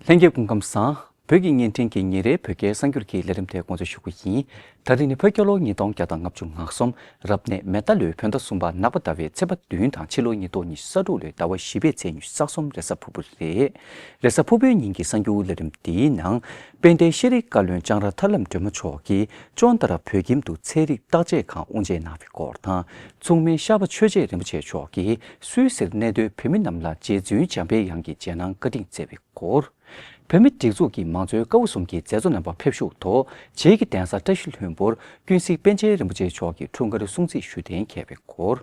ལྷན་རྒྱས་སྐུ་ཁམས་བཟང། བོད་ཀྱི་བརྙན་འཕྲིན་གྱི་ཉིན་རེའི་བོད་སྐད་གསར་འགྱུར་གྱི་ལས་རིམ་ཐད་དགོངས་ཚུལ་ཞུ་རྒྱུ་ཡིན། ད་རེས་ནི་བོད་སྐྱོར་ལོ་ཉིས་སྟོང་བརྒྱ་དང་ལྔ་བཅུ་ང་གསུམ་རབ་གནས་མེ་རྟ་ལོའི་བོད་ཟླ་གསུམ་པ་ནག་པ་ཟླ་བའི་ཚེས་པ་བདུན་དང་ཕྱི་ལོ་ཉིས་སྟོང་ཉི་ཤུ་ས་དྲུག་ལོའི་ཟླ་བ་བཞི་པའི་ཚེས་ཉི་ཤུ་རྩ་གསུམ་རེས་གཟའ་ཕུར་བུ་རེད། རེས་གཟའ་ཕུར་བུའི་ཉིན་གྱི་གསར་འགྱུར་ལས་རིམ་འདིའི་ནང། དཔལ་ལྡན་ཤེས་རིག་བཀའ་བློན་ལྕང་ར་ཐར་ལམ་སྒྲོལ་མ་མཆོག་གིས་ཅོ་ནྡྷ་ར་བོད་ཁྱིམ་དུ་ཚལ་རིགས་བརྟག་དཔྱད་ཁང་དབུ་འབྱེད་གནང་བའི་སྐོར་དང། མཚུངས་མེད་ཤར་པ་ཆོས་རྗེ་རིན་པོ་ཆེ་མཆོག་གིས་སུད་སིར་གནས་སྡོད་བོད་མི་རྣམས་ལ་རྗེ་བཙུན་འཇམ་དཔལ་དབྱངས་ཀྱི་མཇལ་སྣང་བཀའ་དྲིན་སྩལ་བའི་སྐོར། བོད་མི་སྒྲིག་འཛུགས་ཀྱི་མང་གཙོའི་བཀའ་བབས་གསུམ་གྱི་མཛད་གཙོ་རྣམ་པ་ཕེབས་བཞུགས་ཐོག་རྗེས་ཀྱི་གདན་ས་བཀྲ་ཤིས་ལྷུན་པོར་ཀུན་གཟིགས་པཎ་ཆེན་རིན་པོ་ཆེ་མཆོག་གི་འཁྲུངས་སྐར་སྲུང་བརྩི་ཞུ་གཏན་མཁས་པའི་སྐོར།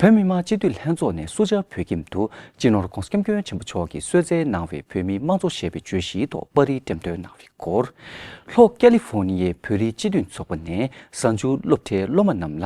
བོད་མི་མང་སྤྱི་འཐུས་ལྷན་ཚོགས་ནས་སུ་ཇཱ་བོད་ཁྱིམ་དུ་སྤྱི་ནོར ྋགོང་ས་སྐྱབས་མགོན་ཆེན་པོ་མཆོག་གིས་གསོལ་སྩལ་གནང་བའི་བོད་མིའི་དམངས་གཙོ་ཞེས་པའི་བརྗོད་གཞིའི་ཐོག་པར་རིས་འགྲེམས་སྟོན་གནང་བའི་སྐོར། ལྷོ་ཀ་ལི་ཧྥོ་ནི་ཡའི་བོད་རིགས་སྤྱི་འཐུས་ཚོགས་པ་ནས་གཟའ་མཇུག་སློབ་གྲྭའི་སློབ་མ་རྣམས་ལ་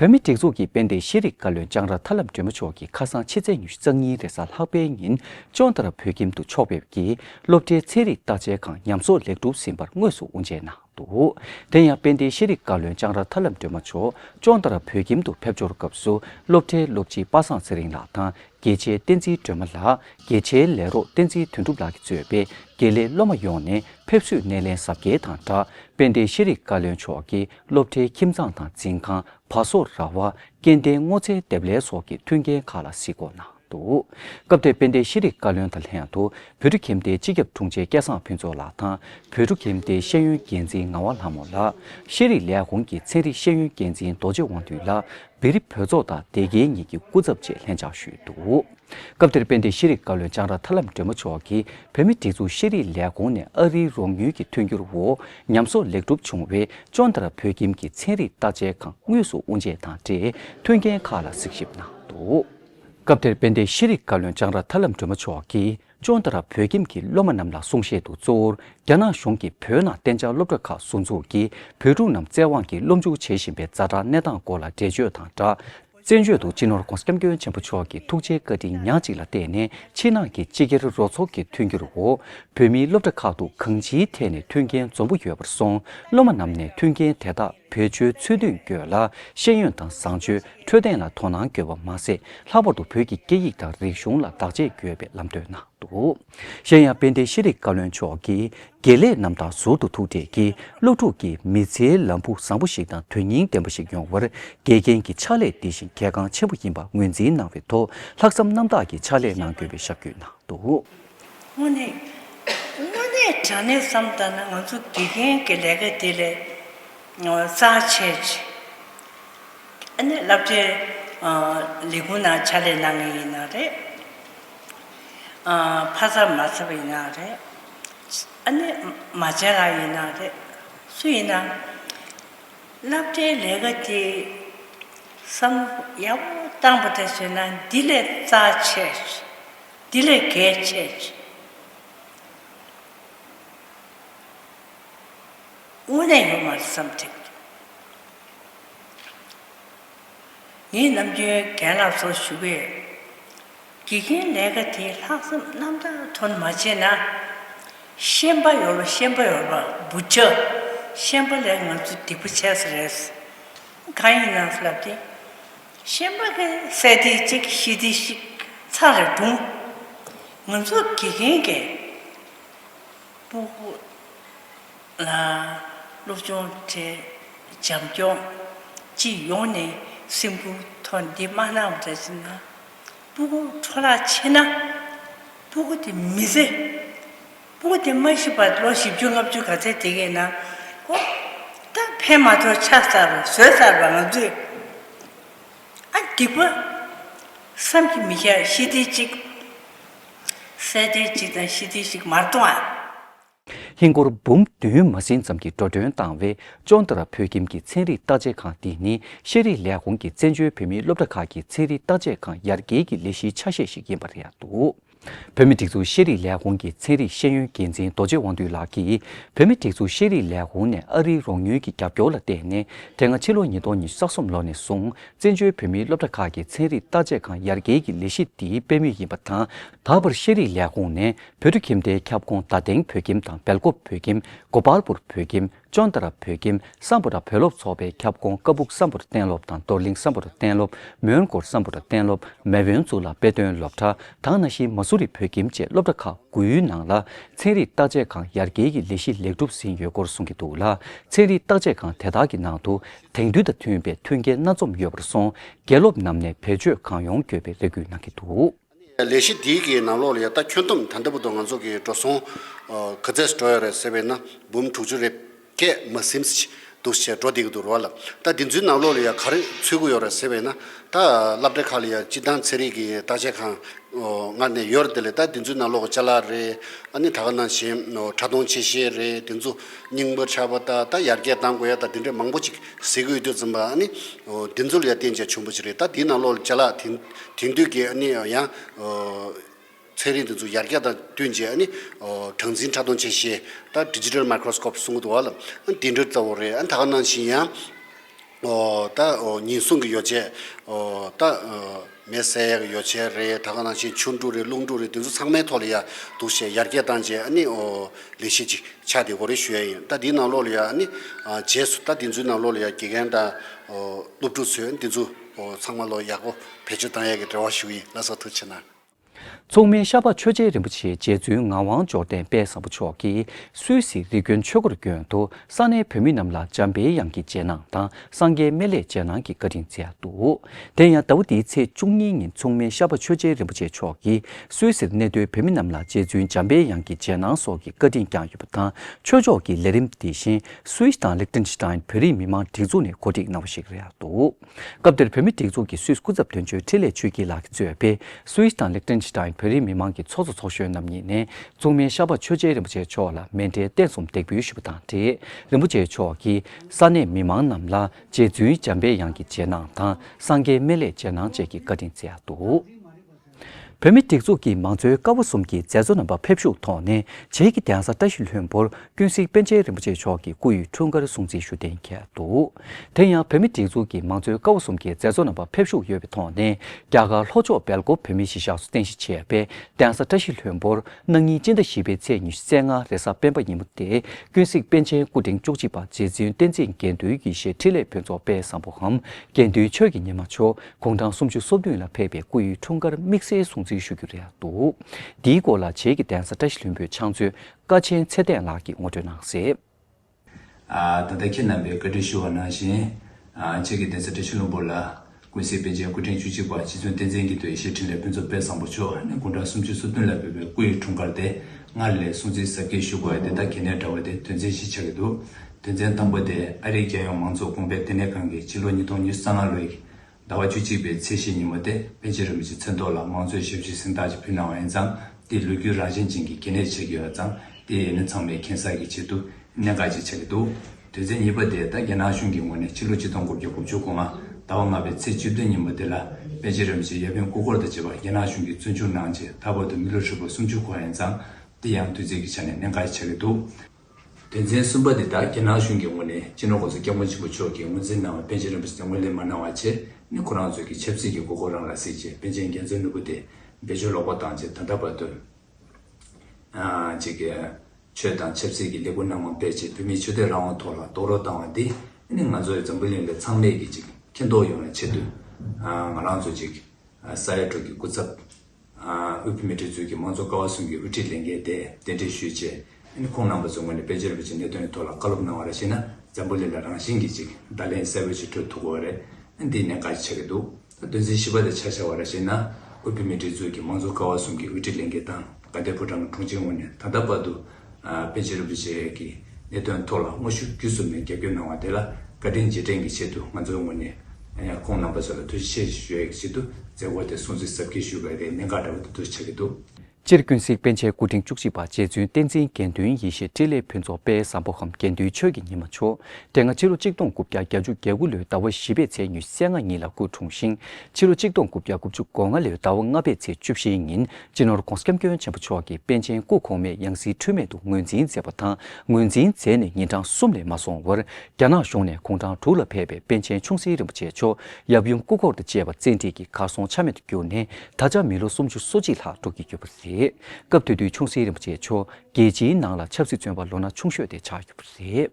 བོད་མི་སྒྲིག་འཛུགས་ཀྱི་དཔལ་ལྡན་ཤེས་རིག་བཀའ་བློན་ལྕང་ར་ཐར་ལམ་སྒྲོལ་མ་མཆོག་གིས་ཁ་སང་ཕྱི་ཚེས་ཉི་ཤུ་རྩ་གཉིས་རེས་གཟའ་ལྷག་པའི་ཉིན་ཅོང་ཏཱ་ར་བོད་ཁྱིམ་དུ་ཕྱོགས་ཕེབས་ཀྱིས་སློབ་གྲྭའི་ཚན་རིག་བརྟག་དཔྱད་ཁང་ཉམས་གསོ་ལེགས་གྲུབ་ཟིན་པར་དངོས་སུ་དབུ་འབྱེད་གནང་འདུག་དེ་ཡང་དཔལ་ལྡན་ཤེས་རིག་བཀའ་བློན་ལྕང་ར་ཐར་ལམ་སྒྲོལ་མ་མཆོག་ཅོང་ཏཱ་ར་བོད་ཁྱིམ་དུ་ཕེབས་འབྱོར་སྐབས་སུ་སློབ་གྲྭའི་སློབ་སྤྱི་པ་སངས་ཚེ་རིང་ལགས་དང་དགེ་ཆེ་བསྟན་འཛིན་སྒྲོལ་མ་ལགས་དགེ་ཆེ་ལས་རོགས་བསྟན་འཛིན་དོན་གྲུབ་ལགས་ཀྱིས་གཙོས་པའི་དགེ་ལས་སློབ་མ་ཡོངས་ནས་ཕེབས་བསུའི་སྣེ་ལེན་གཟབ་རྒྱས་དང་སྦྲགས་དཔལ་ལྡན་ཤེས་རིག་བཀའ་བློན་མཆོག་གིས་སློབ་གྲྭའི་ཁྱིམ་ཚང་དང་འཛིན་ཁང་བ་སོ་ར་བ་སྐྱེལ་འདྲེན་སྔོ་ཚལ་འདེབས་ལས་སོགས་ཀྱི་མཐུན་རྐྱེན་ཁག་ལ་གཟིགས་སྐོར་གནང་འདུག་སྐབས་དེར་དཔལ་ལྡན་ཤེས་རིག་བཀའ་བློན་དང་ལྷན་དུ་བོད་ཕྲུག་ཁྱིམ་སྡེའི་སྤྱི་ཁྱབ་དྲུང་ཆེ་སྐལ་བཟང་ཕུན་ཚོགས་ལགས་དང་བོད་ཕྲུག་ཁྱིམ་སྡེའི་ཤེས་ཡོན་འགན་འཛིན་ངག་དབང་ལྷ་མོ་ལགས་ཤེས་རིག་ལས་ཁུངས་ཀྱི་ཚན་རིག་ཤེས་ཡོན་འགན་འཛིན་རྡོ་རྗེ་དབང་འདུས་ལགས་བེ་རི་བོད་ཚོགས་དང་སྡེ་དགེ་གཉིས་ཀྱི་སྐུ་ཚབ་བཅས་ལྷན་བཅར་ཞུས་འདུག། སྐབས་དེར་དཔལ་ལྡན་ཤེས་རིག་བཀའ་བློན་ལྕང་ར་ཐར་ལམ་སྒྲོལ་མ་མཆོག་གིས་བོད་མིའི་སྒྲིག་འཛུགས་ཤེས་རིག་ལས་ཁུངས་ནས་ཨ་རིའི་རོགས་མྱུལ་གྱི་མཐུན་འགྱུར་འོག་ཉམས་གསོ་ལེགས་གྲུབ་བྱུང་བའི་ཅོན་དར་བོད་ཁྱིམ་གྱི་ཚན་རིག་བརྟག་དཔྱད་ཁང་དངོས་སུ་དབུ་འབྱེད་དང་འབྲེལ་མཐུན་རྐྱེན་ཁག་ལ་གཟིགས་ཞིབ་གནང་འདུག། སྐབས་དེར་དཔལ་ལྡན་ཤེས་རིག་བཀའ་བློན་ལྕང་ར་ཐར་ལམ་སྒྲོལ་མ་མཆོག་གིས་ཅོན་དར་བོད་ཁྱིམ་གྱི་སློབ་མ་རྣམས་ལ་གསུང་བཤད་དུ་གཙོ་བོར་རྒྱ་ནག་གཞུང་གིས་བོད་ནང་གཏན་འཇགས་སློབ་གྲྭ་ཁག་ཟུར་འཛུགས་ཀྱིས་བོད་ཕྲུག་རྣམས་བཙན་དབང་གིས་སློབ་འཇུག་བྱེད་བཞིན་པའི་རྫ་དྲག་གནས་སྟངས་སྐོར་ལ་འགྲེལ་བརྗོད་དང་སྦྲགས། བཙན་བྱོལ་དུ་སྤྱི་ནོར ྋགོང་ས ྋསྐྱབས་མགོན་ཆེན་པོ་མཆོག་གི་ཐུགས་རྗེའི་བཀའ་དྲིན་ཉག་གཅིག་ལ་བརྟེན་ནས་ཕྱི་ནང་གི་སྤྱི་སྒེར་རོགས་ཚོགས་ཀྱི་མཐུན་འགྱུར་འོག་བོད་མིའི་སློབ་གྲྭ་ཁག་ཏུ་གང་ཅིའི་ཐད་ནས་མཐུན་རྐྱེན་འཛོམས་པོ་ཡོད་པར་སོང་སློབ་མ་རྣམས་ནས་མཐུན་རྐྱེན་དེ་དག་བེད་སྤྱོད་ཚུལ་མདུན་སྐྱོད་ལ་ཤེས་ཡོན་དང་བཟང་སྤྱོད་འཕྲོད་བསྟེན་ལ་དོ་སྣང་བསྐྱོད་པ་མ་ཟད་ལྷག་པར་དུ་བོད་ཀྱི་སྐད་ཡིག་དང་རིག་གཞུང་ལ་བདག་གཅེས་འགྱོད་པའི་ལམ་སྟོན་གནང་འདུག། གཞན་ཡང་དཔལ་ལྡན་ཤེས་རིག་བཀའ་བློན་མཆོག་གིས་དགེ་ལས་རྣམས་དང་ཟུར་དུ་ཐུག་འཕྲད་ཀྱིས་སློབ་ཕྲུག་གིས་མི་ཚེའི་ལམ་བུ་བཟང་པོ་ཞིག་དང་དོན་སྙིང་ལྡན་པ་ཞིག་ཡོང་བར་དགེ་རྒན་གྱི་ཕྱག་ལས་དེ་བཞིན་གལ་འགངས་ཆེན་པོ་ཡིན་པ་ངོས་འཛིན་གནང་བའི་ཐོག་ལྷག་བསམ་རྣམ་དག་གིས་ཕྱག་ལས་གནང་དགོས་པའི་ཞབས་བསྐྱོད་གནང་འདུག། དངོས་གནས། དངོས་གནས་དྲང་གནས་བསམ་བཏང་ན་ང་ཚོ་དགེ་རྒན་གྱི་ལས་ཀ་དེ་ལས་རྩ་ཆེ། ཨ་ནེ་བསླབ་གྲྭའི་ལས་ཁུངས་ནང་ཕྱག་ལས་གནང་ངེས་ཡིན་ན་རེད། ཕ་བཟའ་མ་བཟའ་བ་ཡིན་ན་རེད། ཨ་ནེ་མ་བྱས་ལ་ཡིན་ན་རེད། སུ་ཡིན་ན། བསླབ་གྲྭའི་ལས་ཀ་དེ། བསམ་བློ་ཡག་པོ་བཏང་པ་དེ་བཟོས་ན་འདི་ལས་རྩ་ཆེ། འདི་ལས་གལ་ཆེ། དངོས་གནས་ཡོད་མ་རེད་བསམ་ཐེངས་རེ། ངས་ནམ་རྒྱུན་རྒན་ལགས་ཚོར་ཞུ་བའི། དགེ་རྒན་ལས་ཀ་དེ་ལྷག་བསམ་རྣམ་དག་དོན་མ་བྱས་ན། ཤན་པ་ཡོར་བ་ཤན་པ་ཡོར་བ་འབུ་ཆ། ཤན་པ་ལས་ང་ཚོ་སྡིག་པ་བྱས་ས་རེད། གང་ཡིན་ནང་ས་ལབ་དེ། ཤན་པ་གི་སྲས་སྡེ་གཅིག་ཤི་སྡེ་གཅིག་ཚང་རེ་སྒྲུང། ང་ཚོ་དགེ་རྒན་གི། པུ་གུ། སློབ་སྦྱོང་བྲལ། བྱམས་སྐྱོང། སྤྱི་ཡོངས་ནས་སེམས་ཁུར་ཐོག་འདི་མ་གནང་བ་རེད་ཅེ་ན། སྤུ་གུ་འཕྲོ་བརླག་ཆེ་ན། སྤུ་གུ་དེ་མི་བཟད། སྤུ་གུ་དེ་མ་ཤི་བར་ལོ་བཞི་བཅུ་ལྔ་བཅུ་ག་ཚད་དེ་གས་ན། ཨོ། ད་ཕན་མ་ཐོག་ཆགས་ཚར་བ་ཟོས་ཚར་བ་ང་ཚོས། ཨ། སྡིག་པ། བསམ་གྱི་མི་ཤ་ཤི་སྡེ་གཅིག། བསད་སྡེ་གཅིག་དང་ཤི་སྡེ་གཅིག་མར་གཏོང་ཨ། ཧིན་སྒོར་འབུམ་བདུན་མ་ཟིན་ཙམ་གྱི་འགྲོ་གྲོན་བཏང་བས་ཅོང་ཏི་ར་བོད་ཁྱིམ་གྱི་ཚན་རིག་བརྟག་དཔྱད་ཁང་འདི་ནི་ཤེས་རིག་ལས་ཁུངས་ཀྱི་བཙན་བྱོལ་བོད་མིའི་སློབ་གྲྭ་ཁག་གི་ཚན་རིག་བརྟག་དཔྱད་ཁང་ཡར་རྒྱས་ཀྱི་ལས་གཞིའི་ཆ་ཤས་ཤིག་ཡིན་པ་རེད་འདུག་བོད་མི་སྒྲིག་འཛུགས་ཤེས་རིག་ལས་ཁུངས་ཀྱི་ཚན་རིག་ཤེས་ཡོན་འགན་འཛིན་རྡོ་རྗེ་དབང་འདུས་ལགས་ཀྱིས་བོད་མི་སྒྲིག་འཛུགས་ཤེས་རིག་ལས་ཁུངས་ནས་ཨ་རིའི་རོགས་ཉུལ་གྱི་རྒྱབ་སྐྱོར་ལ་བརྟེན་ནས་དེ་སྔ་ཕྱི་ལོ་ཉིས་སྟོང་ཉིས་ས་གསུམ་ལོ་ནས་བཟུང་བཙན་བྱོལ་བོད་མིའི་སློབ་གྲྭ་ཁག་གི་ཚན་རིག་བརྟག་དཔྱད་ཁང་ཡར་རྒྱས་ཀྱི་ལས་གཞི་འདིའི་དཔེ་མིག་ཡིན་པ་དང་ད་བར་ཤེས་རིག་ལས་ཁུངས་ནས་བོད་ཁྱིམ་སྡེའི་ཁྱབ་ཁོངས་དར་སྟེང་བོད་ཁྱིམ་དང་སྦེལ་ཀོབ་བོད་ཁྱིམ་གོ་པཱལ་པུར་བོད་ཁྱིམ་ཅོན་ཏཱ་ར་བོད་ཁྱིམ་སམ་བོ་ཏཱ་བོད་སློབ་ཚོགས་པའི་ཁྱབ་ཁོངས་ཀ་སྦུག་སམ་བོ་ཏཱ་གཏན་སློབ་དང་རྡོར་གླིང་སམ་བོ་ཏཱ་གཏན་སློབ་མོན་གོར་སམ་བོ་ཏཱ་གཏན་སློབ་མེ་བོན་གཙུག་ལག་དཔེ་སྟོན་སློབ་གྲྭ་དང་གནའ་ཤུལ་མ་སུ་རི་བོད་ཁྱིམ་བཅས་སློབ་གྲྭ་ཁག་དགུའི་ནང་ལ་ཚན་རིག་བརྟག་དཔྱད་ཁང་ཡར་རྒྱས་ཀྱི་ལས་གཞི་ལེགས་གྲུབ་ཟིན་ཡོད་སྐོར་གསུང་གི་འདུག་ལ་ཚན་རིག་བརྟག་དཔྱད་ཁང་དེ་དག་གི་ནང་དུ་དེང་དུས་དང་མཐུན་པའི་མཐུན་རྐྱེན་སྣ་འཛོམས་ཡོད་པར་སོང་དགེ་སློབ་རྣམས་ནས་བེད་སྤྱོད་གང་ཡོང་དགོས་པའི་རེ་སྐུལ་གནང་གི་འདུག། ལས་གཞི་འདིའི་གི་ནང་ལོགས་ལ་ཡ་ད་ཁྱོན་དུམ་ད་འདི་པོ་དང་ང་ཚོ་གི་འགྲོ་སོང་ག་ཚད་འགྲོ་ཡ་རེད་ཟེར་བས་ན་འབུམ་དྲུག་ཅུ་རེད་སྐད་མ་སིམ་སི་འདུག་ཟེར་འགྲོ་བསྡད་གི་འདུག་ར་བ་ལ་ད་འདི་ཚོའི་ནང་ལོགས་ལ་ཡ་ག་རེ་འཚོལ་གི་ཡོད་རེད་ཟེར་བས་ན་ད་བསླབ་གྲྭ་ཁག་ལ་ཡ་སྤྱི་བཏང་ཚེ་རིང་གི་བརྟག་དཔྱད་ཁང་ངར་ནས་ཡོད་རེད་དེ་ལས་ད་འདི་ཚོའི་ནང་ལོགས་ལྕ་ལག་རེད་ནི་ད་ག་ནང་བཞིན་ཕྲ་མཐོང་ཆེ་ཤེས་རེད་དེ་ཚོ་སྙིང་པོ་ཆགས་པ་ད་ད་ཡར་རྒྱས་བཏང་དགོས་ཡ་ད་འདི་འདྲ་མང་པོ་ཅིག་ཟེར་གི་ཡོད་དུས་ཙམ་པ་ནི་འདི་ཚོ་ལ་ཡ་བསྟན་བྱ་ཆུང་པོ་ཅིག་རེད་ད་འདིའི་ནང་ལོགས་ལ་ལྕ་ལག་དེ། དེང་དུས་ཀྱི་ཡང་ཚན་རིག་འདི་ཚོ་ཡར་རྒྱས་དང་བསྟུན་རྗེས་གྲངས་འཛིན་ཕྲ་མཐོང་ཆ་ཤས་དང Digital Microscope གསུང་གི་འདུག་བ་ལ་དེ་འདྲ་ལྟ་བུ་རེད་ད་ག་ནང་བཞིན་ཡང་ད་ཉིན་གསུང་གི་ཡོ་བྱད་ད་མེ་བསྲེག་ཡག་ཡོ་བྱད་རེད་ད་ག་ནང་བཞིན་ཆུ་འབྲུ་རེད་རླུང་འབྲུ་རེད་དེ་ཚོ་ཚང་མའི་ཐོག་ལ་ཡང་འདུག་བཤད་ཡར་རྒྱས་བཏང་རྗེས་ལས་གཞི་ཅིག་ཆགས་དེ་གོ་རེ་ཞུ་ཡ་ཡིན་ད་དེའི་ནང་ལོགས་ལ་ཡང་རྗེས་སུ་ད་དེ་ཚོའི་ནང་ལོགས་ལ་ཡང་དགེ་རྒན་དང་སློབ་ཕྲུག་ཚོས་དེ་ཚོ། པོ་ཚང་མ་ལོ་ཡག་པོ་བེད་སྤྱོད་གཏང་ཡས་ཀྱི་འབྲེལ་བ་ཞུ་ཡིན་ལ་སོགས་ཐུགས་ཆེ་ན། མཚུངས་མེད་ཤར་པ་ཆོས་རྗེ་རིན་པོ་ཆེའི་རྗེ་བཙུན་ངག་དབང་འབྱོར་ལྡན་དཔལ་བཟང་པོ་མཆོག་གིས་སུད་སི་རི་ཀོན་ཆོས་འཁོར་རྒྱུན་དུ་ས་གནས་བོད་མི་རྣམས་ལ་འཇམ་དཔལ་དབྱངས་ཀྱི་རྗེས་གནང་དང་སངས་རྒྱས་སྨན་བླའི་རྗེས་གནང་གི་བཀའ་དྲིན་སྩལ་འདུག་དེ་ཡང་ཟླ་བ་འདིའི་ཚེས་བཅུ་གཉིས་ཉིན་མཚུངས་མེད་ཤར་པ་ཆོས་རྗེ་རིན་པོ་ཆེ་མཆོག་གིས་སུད་སིར་གནས་སྡོད་བོད་མི་རྣམས་ལ་རྗེ་བཙུན་འཇམ་དཔལ་དབྱངས་ཀྱི་རྗེས་གནང་སོགས་ཀྱི་བཀའ་དྲིན་བསྐྱངས་ཡོད་པ་དང་ཆོས་ཕྱོགས་ཀྱི་ལས་རིམ་འདི་བཞིན Swiss དང Liechtenstein བོད་རིགས་མི་དམངས་སྒྲིག་འཛུགས་ནས་གོ་སྒྲིག་གནང་བ་ཞིག་རེད་འདུག་སྐབས་དེར་བོད་མི་སྒྲིག་འཛུགས་ཀྱི Swiss སྐུ་ཚབ་དོན་གཅོད་ཁྲི་ལས་ཆོས་སྐྱིད་ལགས་ཀྱིས་གཙོས་པའི Swiss དང Liechtenstein བོད་རིགས་མི་དམངས་ཀྱི་ཚོགས་གཙོ་ཚོགས་གཞོན་རྣམ་གཉིས་ནས་གཙུག་མན་ཤར་པ་ཆོས་རྗེ་རིན་པོ་ཆེ་མཆོག་ལ་མེ་མདའི་རྟེན་གསུམ་འདེགས་འབུལ་ཞུ་བ་དང་འབྲེལ་རིན་པོ་ཆེ་མཆོག་གིས་ས་གནས་མི་དམངས་རྣམས་ལ་རྗེ་བཙུན་འཇམ་དཔལ་དབྱངས་ཀྱི་རྗེས་གནང་དང་སངས་རྒྱས་སྨན་བླའི་རྗེས་གནང་བཅས་ཀྱི་བཀའ་དྲིན་སྩལ་འདུག། བོད་མི་སྒྲིག་འཛུགས་ཀྱི་མང་གཙོའི་སྐབས་བོ་གསུམ་གྱི་མཛད་གཙོ་རྣམ་པ་ཕེབས་བཞུགས་ཐོག་ནས་བྱེས་ཀྱི་གདན་ས་བཀྲ་ཤིས་ལྷུན་པོར་ཀུན་གཟིགས་པཎ་ཆེན་རིན་པོ་ཆེ་མཆོག་གི་སྐུ་ཡི་འཁྲུངས་སྐར་སྲུང་བརྩི་ཞུ་གཏན་འཁེལ་འདུག་དེ་ཡང་བོད་མི་སྒྲིག་འཛུགས་ཀྱི་མང་གཙོའི་སྐབས་བོ་གསུམ་གྱི་མཛད་གཙོ་རྣམ་པ་ཕེབས་བཞུགས་ཡོད་པའི་ཐོག་ནས་རྒྱ་གར་ལྷོ་ཕྱོགས་སྦེལ་ཀོབ་བོད་མིའི་གཞིས་ཆགས་སུ་རྟེན་གཞི་བྱས་པའི་གདན་ས་བཀྲ་ཤིས་ལྷུན་པོར་གནངས་ཉིན་སྤྱི་ཟླ་བཞི་པའི་ཚེས་ཉི་ཤུ་རྩེ་ལྔ་རེས་གཟའ་སྤེན་པ་ཉིན་མོ་སྟེ་ཀུན་གཟིགས་པཎ་ཆེན་སྐུ་ཕྲེང་བཅུ་གཅིག་པ་རྗེ་བཙུན་བསྟན་འཛིན་དགེ་འདུན་ཡེ་ཤེས་ཁྲི་ལས་བོན་ཚོགས་དཔལ་བཟང་པོའམ་དགེ་འདུན་ཆོས་ཀྱི་ཉི་མ་མཆོག་དགུང་གྲངས་སུམ་ཅུ་སོ་བདུན་ལ་ཕེབས་པའི་སྐུ་ཡི་འཁྲུངས་སྐར་དམིགས་བསལ་སྲུང་བརྩི་ཞུ་རྒྱུ་རེད་འདུག་འདིའི་སྐོར་ལ་བྱེས་ཀྱི་གདན་ས་བཀྲ་ཤིས་ལྷུན་པོའི་ཕྱག་མཛོད་ཀ་ཆེན་ཚེ་བརྟན་ལགས་ཀྱིས་ངོ་སྤྲོད་གནང་གསལ། ད་ལྟ་ཁྱེད་རྣམ་པས་བཀའ་དྲིན་ཞུ་བ་ནང་བཞིན། བྱེས་ཀྱི་གདན་ས་བཀྲ་ཤིས་ལྷུན་པོ་ལ། ཀུན་གཟིགས་པཎ་ཆེན་སྐུ་ཕྲེང་བཅུ་གཅིག་པ་རྗེ་བཙུན་བསྟན་འཛིན་གྱི་མདོའི་ཞལ་ཕྲིན་ལས་ཕུན་ཚོགས་དཔལ་བཟང་པོ་མཆོག་ནས་དགུང་གྲངས་སུམ་ཅུ་སོ་བདུན་ལ་ཕེབས་པའི་སྐུ་ཡི་འཁྲུངས་སྐར་དེ་སྔར་ལས་སྲུང་བརྩི་ཟབ་རྒྱས་ཞུ་དགོས་པ་དེ་དག་གལ་གནད་འདྲ་བ་དེ་དོན་ཚན་བཞི་ཆགས་ཀྱི་འདུག་དོན་ཚན་དང་པོ་དེ་ཨ་རིའི་རྒྱལ་ཡོངས་མང་གཙོ་གོང་སྤེལ་ལྟེ་གནས་ཁང་གིས་ཕྱི་ལོ་ཉིས་སྟོང་ཉེར་གསང་ལྔ་ལོའི་ཟླ་བ་བཅུ་གཅིག་པའི་ཚེས་བཞི་ཉིན་མོ་སྟེ་པེ་ཅིང་རིན་པོ་ཆེ་མཚན་ཐོག་ལ་མང་གཙོའི་ཞབས་ཞུའི་གཟེངས་རྟགས་ཅིག་ཕུལ་གནང་བ་ཡིན་ཙང་དེའི་ལོ་རྒྱུས་རང་བཞིན་ཅན་གྱི་གལ་གནད་ཆེ་གི་ཡོད་པ་ཙང་དེའི་ཡས་མས་ཚང་མའི་མཁྱེན་གསར་གྱི་ཆེད་དུ་གནད་འགག་ཅིག་ཆགས་ཀྱི་འདུག་དོན་ཚན་གཉིས་པ་དེ་ད་རྒྱ་ནག་གཞུང་གི་ངོས་ནས་ཕྱི་ལོ་གཅིག་སྟོང་དགུ་བརྒྱ་དགུ་བཅུ་དགུ་ང་ཟླ་བ་ལྔ་པའི་ཚེས་བཅུ་བདུན་ཉིན་མོ་དེ་ལ་པེ་ཅིང་རིན་པོ་ཆེ་ཡབ་ཡུམ་སྐུ་འཁོར་དང་བཅས་པ་རྒྱ་ནག་གཞུང་གིས་བཙོན་འཇུག་གནང་རྗེས་ད་བར་དུ་མི་ལོ་ཧྲིལ་པོ་སུམ་ཅུ་འཁོར་བ་ཡིན་ཙང་དེ་ཡང་དུས་ཚོད་ཀྱི་ཆ་ནས་གནད་འགག་ཅིག་ཆགས་ཀྱི་འདུག། དོན་ཚན་གསུམ་པ་འདི་དག་རྒྱ་ནག་གཞུང་གི་ངོས་ནས་སྤྱི་ནོར ྋགོང་ས་སྐྱབས་མགོན་ཆེན་པོ་མཆོག་གིས་ངོས་འཛིན་གནང་བའི་པཎ་ཆེན་རིན་པོ་ཆེ་དེ་ངོས་ལེན་མ་གནང་བ་བཅས་ནི་ཁོ་རང་ཚོས་ཀྱི་ཆབ་སྲིད་ཀྱི་དགོས་མཁོ་རང་ལ་གཟིགས་ཆེད་པཎ་ཆེན་རྒྱ་མཚོའི་ནོར་བུ་དེ་བེད་སྤྱོད་ལོག་པ་བཏང་ཆེད་ད་ལྟ་བར་དུ ྋསྐྱབས་མགོན་ཆེན་པོ་མཆོག་གིས་ཆོས་དང་ཆབ་སྲིད་ཀྱི་ལས་འགུལ་སྣ་མང་སྤེལ་ཆེད་བོད་མིའི་ཆོས་དད་རང་དབང་ཐོག་ལ་རྡོག་རོལ་བཏང་བ་འདི་ནི་ང་ཚོ་ཡི་འཛམ་བུ་གླིང་ལ་ཚང་མས་ཀྱི་ཅིག་མཁྱེན་རྟོགས་ཡོང་བའི་ཆེད་དུ་ང་རང་ཚོས་ཅིག་ས་ཡ་དྲུག་གི་སྐུ་ཚབ། དབུས་བོད་མིའི་སྒྲིག་འཛུགས་ཀྱི་དམངས་གཙོ་ཀ་བ་ཟུང་གི་དབུ་ཁྲིད་ལས་འགན་དེ་གཏན་འཁེལ་ཞུས་རྗེས། ཁོང་རྣམ་པ་ཚོའི་ངོས་ནས་དཔལ་འབྱོར་བོད་ཀྱི་གནད་དོན་ཐོག་ལ་བཀའ་སློབ་གནང་བ་རེ་བྱས་ན་འཛམ་བུ་གླིང་ལ་རང་བཞིན་གྱིས་ཅིག་བརྡ་ལན་གསལ་བོ་ཞིག་སྤྲོད་ཐུབ་དགོས་བ་རེད། འདི་ནས་བཀའ་ཆགས་ཀྱི་འདུག་ད་དོན་ཚན་བཞི་པ་དེ་ཆ་ཆ་བ་རེ་བྱས་ན། དབུས་བོད་མིའི་སྒྲིག་འཛུགས་ཀྱི་དམངས་གཙོ་ཀ་བ་ཟུང་གི་དབུ་ཁྲིད་ལས་འགན་དང་དགའ་ལྡན་ཕོ་བྲང་གི་དྲུང་ཆེའི་ངོས་ནས་ད་ལྟ་བར་དུ་པེ་ཅི་རིན་པོ་ཆེ་གི་གནད་དོན་ཐོག་ལ་དངོས་བཤུས་བརྒྱུད་གསུམ་ནས་རྒྱབ་སྐྱོར་གནང་བ་དེ་ལ་བཀའ་དྲིན་རྗེས་དྲན་གྱི་ཆེད་དུ་ང་ཚོའི་ངོས་ནས་ཡང་ཁོང་རྣམ་པ་ཚོ་ལ་ཐུགས་རྗེ་ཆེ་ཞེས་ཞུ་ཡ་གི་ཆེད་དུ་མཛད་སྒོ་དེ་སྲུང་བརྩི་ཟབ་ཁྱེར་ཞུ་བའི་རེ་སྙན་འགའ་འདྲ་བོ་འདི་འདུག་ཆ་གི་འདུག། སྤྱིར་ཀུན་གཟིགས་པཎ་ཆེན་སྐུ་ཕྲེང་བཅུ་གཅིག་པ་རྗེ་བཙུན་བསྟན་འཛིན་དགེ་འདུན་ཡེ་ཤེས་སྤྲེལ་ལད་ཕུན་ཚོགས་དཔལ་བཟང་པོ་ཁམས་དགེ་འདུན་ཆོས་ཀྱི་ཉི་མ་མཆོག་སྤྲེལ་སྔ་ཕྱི་ལོ་གཅིག་སྟོང་དགུ་བརྒྱ་གྱ་བཅུ་གྱ་དགུ་ལོའི་ཟླ་བ་བཞི་པའི་ཚེས་ཉུལ་སད་ང་གཉིས་ལ་སྐུ་འཁྲུངས་ཤིང་ཕྱི་ལོ་གཅིག་སྟོང་དགུ་བརྒྱ་དགུ་བཅུ་གོ་ལྔ་ལོའི་ཟླ་བ་ལྔ་པའི་ཚེས་བཅུ་བཞིའི་ཉིན་སྤྱི་ནོར ྋགོང་ས ྋསྐྱབས་མགོན་ཆེན་པོ་མཆོག་གིས་པཎ་ཆེན་སྐུ་གོང་མའི་ཡང་སྲིད་འཁྲུལ་མེད་དུ་ངོས་འཛིན་མཛད་པ་དང་ངོས་འཛིན་མཛད་ནས་ཉིན་གྲངས་གསུམ་ལས་མ་སོང་བར་རྒྱ་ནག་གཞུང་ནས་གུང་ཁྲང་དྲུག་ལ་ཕེབས་པའི་པཎ་ཆེན་ཆུང་སྲིད་རིན་པོ་ཆེ་མཆོག་ཡབ་ཡུམ་སྐུ་འཁོར་དང་བཅས་པ་བཙན་ཁྲིད་ཀྱིས་གར་སོང་ཆ་མེད་དུ་གྱུར་ནས་ད་ཆ་མི་ལོ་སུམ་ཅུ་སོ་གཅིག་ལྷག་འགྲོ་གི་ཡོད་པ་རེད། སྐབས་དེ་དུས་ཆུང་སྲིད་རིན་པོ་ཆེ་མཆོག་རྒྱལ་སྤྱིའི་ནང་ལ་ཆབ་སྲིད་བཙོན་པ་ལོ་ན་ཆུང་ཤོས་དེ་ཆགས་ཡོད་པ་རེད།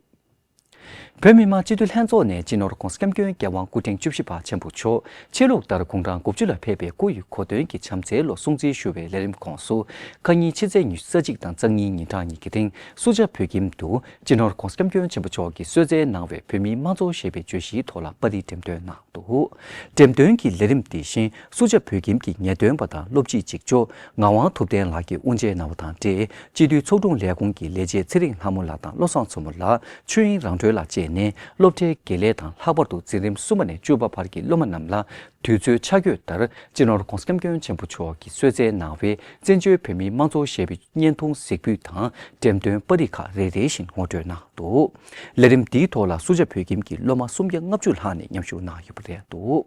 བོད་མི་མང་སྤྱི་འཐུས་ལྷན་ཚོགས་ནས་སྤྱི་ནོར ྋགོང་ས ྋསྐྱབས་མགོན་རྒྱལ་དབང་སྐུ་ཕྲེང་བཅུ་བཞི་པ་ཆེན་པོ་མཆོག་ཆེད་ལུགས་ལྟར་དགུང་གྲངས་དགུ་བཅུ་ལ་ཕེབས་པའི་སྐུ་ཡི་གོ་སྟོན་གྱི་བྱམས་བརྩེའི་ལོ་སྲུང་བརྩི་ཞུ་བའི་ལས་རིམ་ཁོངས་སུ་ཁ་ཉིན་ཕྱི་ཚེས་ཉི་ཤུ་རྩ་གཅིག་དང་གཙང་གཉིས་ཉིན་གྲངས་གཉིས་ཀྱི་སྟེང་སུ་ཇཱ་བོད་ཁྱིམ་དུ་སྤྱི་ནོར ྋགོང་ས ྋསྐྱབས་མགོན་ཆེན་པོ་མཆོག་གིས་གསོལ་བསྩལ་གནང་བའི་བོད་མིའི་དམངས་གཙོ་ཞེས་པའི་བརྗོད་གཞིའི་ཐོག་ལ་པར་རིས་འགྲེམས་སྟོན་གནང། འདུག་འགྲེམས་སྟོན་གྱི་ལས་རིམ་དེ་བཞིན་སུ་བྱ་བོད་ཁྱིམ་གྱི་ངེས་སྟོན་པ་དང་སློབ་སྤྱི་གཅིག་ལྕོགས་ངག་དབང་ཐུབ་བསྟན་ལགས་ཀྱིས་དབུ་འབྱེད་གནང་བ་དང་འབྲེལ་སྤྱི་འཐུས་ཚོགས་དྲུང་ལས་ཁུངས་ཀྱི་ལས་བྱེད་ཚེ་རིང་ལྷ་མོ་ལགས་དང་བློ་བཟང་མཚོ་མོ་ལགས་ཆོས་དབྱིངས་རང་གྲོལ་ལགས་བཅས་ནས་སློབ་གྲྭའི་དགེ་ལས་དང་ལྷག་པར་དུ་འཛིན་རིམ་གསུམ་པ་ནས་བཅུ་བ་བར་གྱི་སློབ་མ་རྣམས་ལ་དུས་ཚོད་ཆ་བགོས་ལྟར་སྤྱི་ནོར ྋགོང་ས ྋསྐྱབས་མགོན་ཆེན་པོ་མཆོག་གིས་གསོལ་བསྩལ་གནང་བའི་བཙན་བྱོལ་བོད་མིའི་དམངས་གཙོ་བཞད་པོའི་བརྙན་ཐུང་གཟིགས་འབུལ་དང་འགྲེམས་སྟོན་པར་རིགས་ཁག་རེ་རེ་བཞིན་ངོ་སྤྲོད་གནང་འདུག། ལས་རིམ་འདིའི་ཐོག་ལ་སུ་ཇཱ་བོད་ཁྱིམ་གྱི་སློབ་མ་སུམ་བརྒྱ་ལྔ་བཅུ་ལྷག་ནས་མཉམ་ཞུགས་གནང་ཡོད་པ་རེད་འདུག།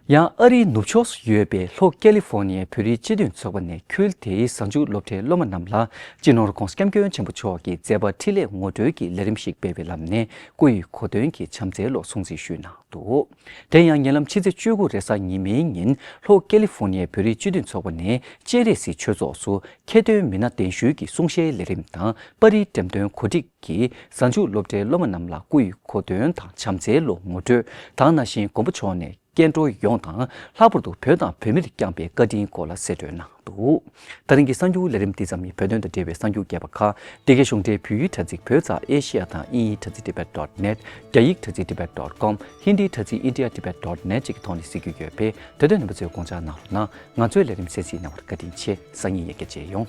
ཡང་ཨ་རིའི་ནུབ་ཕྱོགས་སུ་ཡོད་པའི་ལྷོ་ཀེ་ལི་ཧྥོ་ནི་ཡའི་བོད་རིགས་སྤྱི་མཐུན་ཚོགས་པ་ནས་ཁུལ་དེའི་གཟའ་མཇུག་སློབ་གྲྭའི་སློབ་མ་རྣམས་ལ་སྤྱི་ནོར་ཁོང་སྐྱབས་མགོན་ཆེན་པོ་མཆོག་གི་མཛད་པ་འཕྲིན་ལས་ངོ་སྤྲོད་ཀྱི་ལས་རིམ་ཞིག་སྤེལ་བའི་ལམ་ནས་སྐུ་ཡི་གོ་སྟོན་གྱི་བྱམས་བརྩེའི་ལོག་སྲུང་སྲི་ཞུ་གནང་འདུག་དེ་ཡང་ཉེ་ལམ་ཕྱི་ཚེས་བཅུ་དགུ་རེས་གཟའ་ཉི་མའི་ཉིན་ལྷོ་ཀེ་ལི་ཧྥོ་ནི་ཡའི་བོད་རིགས་སྤྱི་མཐུན་ཚོགས་པ་ནས་སྤྱན་རས་གཟིགས་ཆོས་ཚོགས་སུ་ཁྱད་སྟོན་མི་སྣ་གདན་ཞུ་གྱི་གསུང་བཤད་ལས་རིམ་དང་པར་རིས་འགྲེམས་སྟོན་གོ་སྒྲིག། གིས་གཟའ་མཇུག་སློབ་གྲྭའི་སློབ་མ་རྣམས་ལ་སྐུ་ཡི་གོ་དོན་དང་བྱམས་བརྩེའི་ལོ་ངོ་དྲོད་དང་ན་བཞིན་མགོན་པོ་མཆོག་ནས་སྐྱེ་འགྲོ་ཡོངས་དང་ལྷག་པར་དུ་བོད་དང་བོད་མིར་བསྐྱངས་པའི་བཀའ་དྲིན་སྐོར་ལ་གསེད་བཀྲོལ་གནང་འདུག་ད་རིང་གི་གསར་འགྱུར་ལས་རིམ་འདི་ཙམ་ནི་བོད་དོན་དང་འབྲེལ་བའི་གསར་འགྱུར་རྒྱས་པ་ཁག་སྡེ་དགེ་གཞུང་འབྲེལ་བོད་ཡིག་དྲ་ཚིགས་བོད་ཙཱ་ཨེ་ཤེ་ཡ་དང་དབྱིན་ཡིག་དྲ་ཚིགས Tibet dot net རྒྱ་ཡིག་དྲ་ཚིགས Tibet dot com ཧིནྡིའི་དྲ་ཚིགས India Tibet dot net བཅས་ཀྱི་ཐོག་ནས་གཟིགས་རྒྱུ་ཡོད་པས་དྲ་སྟོན་རྣམ་པ་ཚོས་དགོངས་འཇགས་གནང་རོགས་གནང་ཚོས་ལས་རིམ་གསན་གཟིགས་གནང་བར་བཀའ་དྲིན་ཆེ་སང་ཉིན་ཡར་རྒྱས་མཇལ་ཡོང།